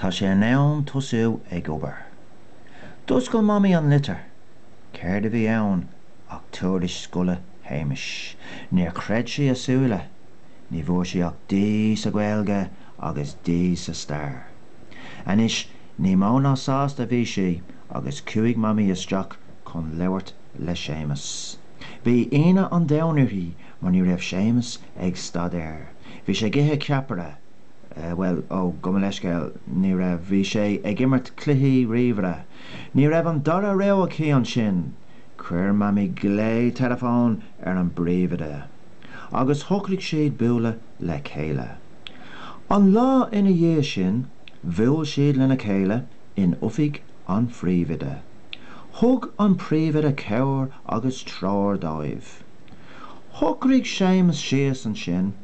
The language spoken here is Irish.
Tá sé in am tosú ag obair. D'oscail Mamaí an litir. Céard a bhí ann ach tuairisc scoile Shéamais. Níor chreid sí a súile. Ní bhfuair sé ach D sa Ghaeilge agus D sa Stair. Anois, ní mó ná sásta a bhí sí agus chuaigh Mamaí isteach chun labhairt le Séamas. Bhí ionadh an domhain uirthi mar ní raibh Séamas ag staidéar. Bhí sé ag ithe ceapaire. Bhuel, ó, gabh mo leithscéal, ní raibh, bhí sé ag imirt cluichí ríomhaire. Ní raibh an dara rogha aici ansin. Chuir Mamaí glao teileafóin ar an bpríomhoide agus shocraigh siad bualadh le chéile. An lá ina dhiaidh sin, bhuail siad lena chéile in oifig an phríomhoide. Thug an príomhoide cabhair agus treoir dóibh. Shocraigh Séamas síos ansin.